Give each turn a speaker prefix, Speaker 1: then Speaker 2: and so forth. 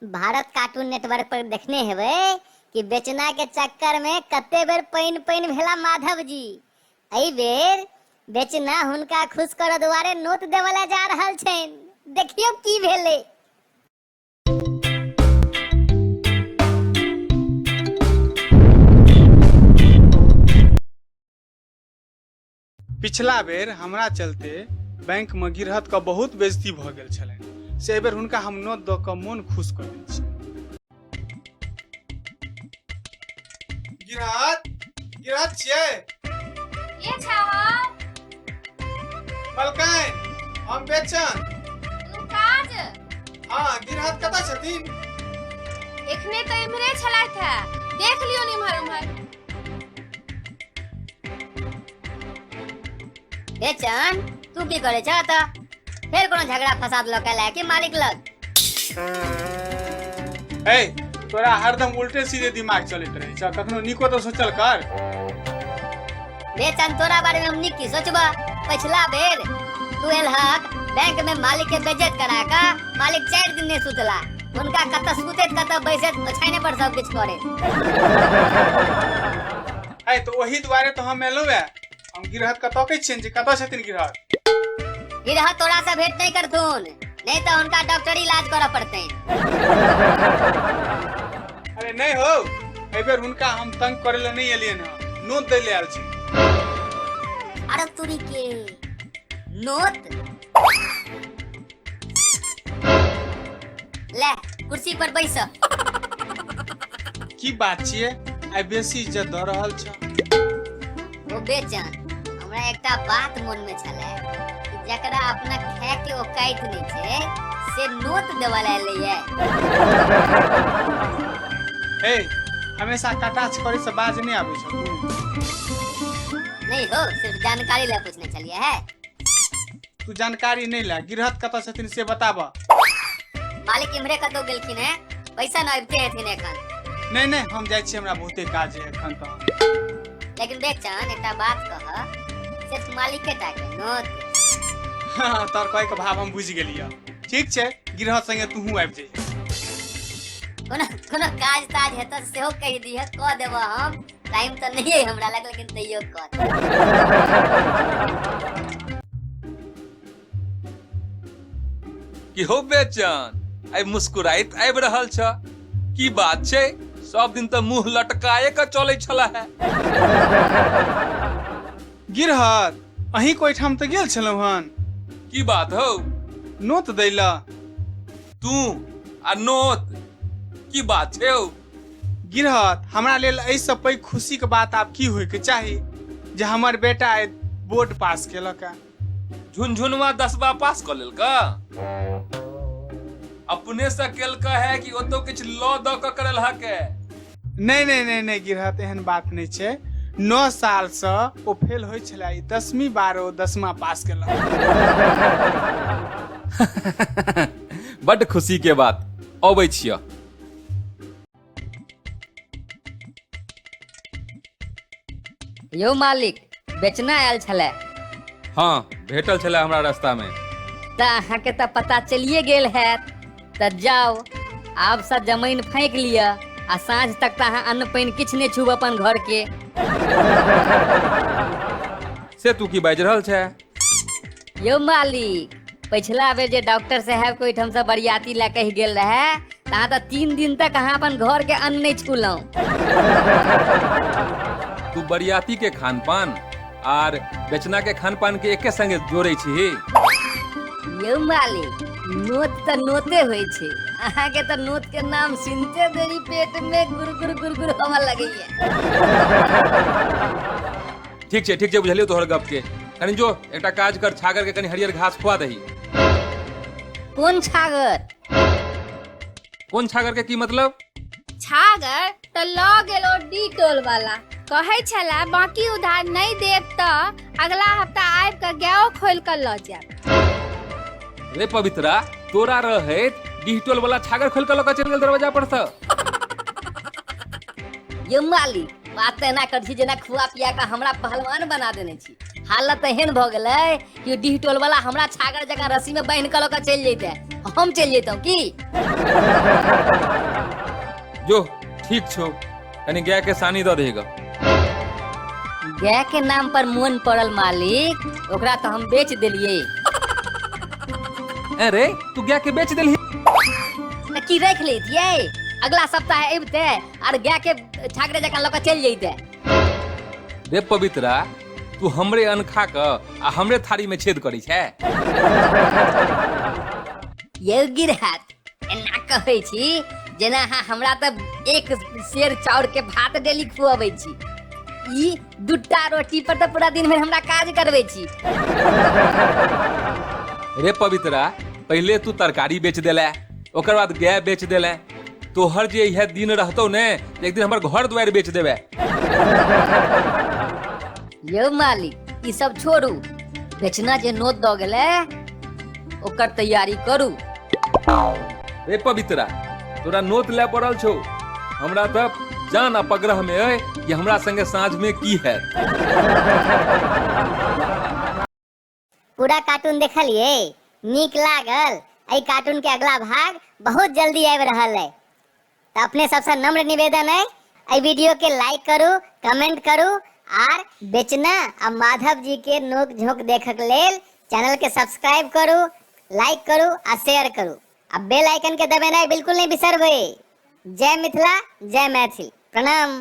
Speaker 1: Bharat cartoon network पर देखने हेबै कि बेचना के चक्कर में कते बेर पानि पानि भेला माधव जी एहि बेर बेचना हुनका खुश करऽ दुआरे नोत देवऽ ला जा रहल छनि देखियौ की भेलै पिछला बेर हमरा चलते बैंक में गिरहत का बहुत बेजती भ गेल छलनि से एहि बेर हुनका हम नोत दऽ कऽ मोन खुश कऽ दै छी गिरहत गिरहत छियै के छावर मलकाइन हम बेचन तू काज हँ गिरहत कतऽ छथिन एखने तऽ इम्हरे छलथि है देख लियौ इम्हर उम्हर बेचन तू की करे छ त फेर कोनो झगड़ा फसाद लऽ के लायक मालिक लग ए तोरा हरदम उल्टे सीधे दिमाग चलैत रहै छ कखनो निको तऽ सोचल कर बेचन तोरा बारे में हम नीक की सोचबा पछिला बेर तू एलहक बैंक में मालिक के बेइज्जत करा का मालिक चार दिन नहीं सुतला हुनका कतऽ सुतैत कतऽ बैसैत छाने पर सब किछु करे है तो वही दुआरे तो हम एलो है हम गिरहत कतौ के छियन जे कतौ छथिन गिरहत गिरह तोरा से भेंट नहीं करथुन नहीं तो उनका डॉक्टरी इलाज करऽ पड़ते अरे नहीं हो एहि बेर हुनका हम तंग करे ले नहीं एलियन हँ नोत दै ले आयल छी अरे तुरी के नोत ले कुर्सी पर बैस की बात छियै आइ बेसी इज्जत दऽ रहल छ ओ बेचन हमरा एकटा बात मन में छले जकरा अपना खाय के औकात नहीं छे से नोट देवा ले लिए हे हमेशा कटाच करे से बाज नहीं आबै छ नहीं हो सिर्फ जानकारी ले पूछने चलिए है तू जानकारी नहीं ला गिरहत कत छथिन से बताब मालिक इम्हरे कतौ गेलखिन है पैसा न अबिते हेथिन एखन नहीं नहीं हम जाए छी हमरा बहुते काज है एखन तो लेकिन देख चान एकटा बात कह सिर्फ मालिक के टाके नोत हाँ, तोर कहे के भाव हम बुझ गेलिए ठीक छे गिरहत संगे तू हूँ आबि जाइए कोनो कोनो काज ताज हेतौ सेहो कहि दिहे कह देबो हम टाइम तऽ नहि है हमरा लग लेकिन तैयो कर की हो बेचन आइ मुस्कुराइत आबि रहल छ की बात छै सब दिन तऽ मुंह लटकाए के चलै छला है गिरहत अहीं कोई ठाम तऽ गेल छलहुँ हन की बात हौ नोत दै लए तू आ नोत की बात छै हौ गिरहत हमरा लेल एहिसँ पैघ खुशीके बात आब की होइके चाही जे हमर बेटा आइ बोर्ड पास केलक है झुनझुनवा दसवा पास कऽ लेलका अपने से केलका है कि ओतो किछु लऽ दऽ कऽ करल हके नहि नहि नहि नहि गिरहत एहन बात नहि छै नओ सालसँ ओ फेल होइ छलै ई दसमी बार ओ दसमा पास केलक बड्ड खुशी के बात अबै छिय यौ मालिक बेचना आयल छलै हाँ भेटल छलै हमरा रास्ता में तऽ अहाँके तऽ पता चलिए गेल हैत तऽ जाउ आब से जमीन फाँकि लिअ आ साँझ तक तऽ अहाँ अन्न पानि किछु नहि छूब अपन घरके से तू की बाजि रहल छै यौ मालिक पछिला बेर जे डॉक्टर साहब के ओहिठाम से बरियाती लए कहि गेल रहे तहाँ तऽ तीन दिन तक अहाँ अपन घर के अन्न नहि छुलहुँ तू बरियाती के खान पान आर बेचना के खान पान के एके संगे जोड़े छी यौ मालिक नोत तऽ नोते होइ छै अहाँके तऽ नोत के नाम सुनते देरी पेट में गुर गुर गुर गुर होमऽ लगैया ठीक छै ठीक छै बुझलियौ तोहर गप के कनी जो एकटा काज कर छागर के कनी हरियर घास खुआ दही कोन छागर कोन छागर के की मतलब छागर तऽ लऽ गेल ओ डिटोल वाला कहै छला बाकी उधार नहि देब तऽ अगला हफ्ता आबि कऽ गायो खोल कऽ लऽ जायब रे पवित्रा तोरा रहे डिजिटल वाला छागर खोल के लऽ के चल गेल दरवाजा पर से यो मालिक बात तऽ एना करै छी जेना खुआ पिया कऽ हमरा पहलवान बना देने छी हालत एहन भऽ गेलै कि डीह टोल वाला हमरा छागर जकाँ रस्सी में बांधि कऽ लऽ कऽ चलि जैते हम चलि जैतहुँ की जो ठीक छो कनी गाय के सानी दऽ देगा गाय के नाम पर मोन पड़ल मालिक ओकरा तो हम बेच दिलिए अरे तू गाय के बेच देलही की रख लेतिए अगला सप्ताह अबते आर गाय के छागरे जकाँ लऽ कऽ चलि जैते रे पवित्रा तू हमरे अन्न खा कऽ आ हमरे थारी में छेद करै छै यौ गिरहत एना कहै छी जेना अहाँ हमरा तऽ एक शेर चाउर के भात डेली खुअबै छी ई दूटा रोटी पर तऽ पूरा दिन भरि हमरा काज करबै छी रे पवित्रा पहिले तू तरकारी बेच देले ओकर बाद गाय बेच देले तोहर जे यह दिन रहतो ने त एक दिन हमर घर द्वार बेच देबे यौ मालिक ई सब छोड़ू बेचना जे नोत दऽ गेलै ओकर तैयारी करू रे पवित्रा तोरा नोत ले पड़ल छौ हमरा त जान आ पगरह में अय कि हमरा संगे साँझ में की है पूरा कार्टून देखलिए नीक लागल एहि कार्टून के अगला भाग बहुत जल्दी आबि रहल है तो अपने सबसे नम्र निवेदन है एहि वीडियो के लाइक करू कमेंट करू आर बेचना आ माधव जी के नोक झोंक देखक लेल चैनल के सब्सक्राइब करू लाइक करू आ शेयर करू आ बेल आइकन के दबेनाइ बिल्कुल नहीं बिसरबै जय मिथिला जय मैथिल प्रणाम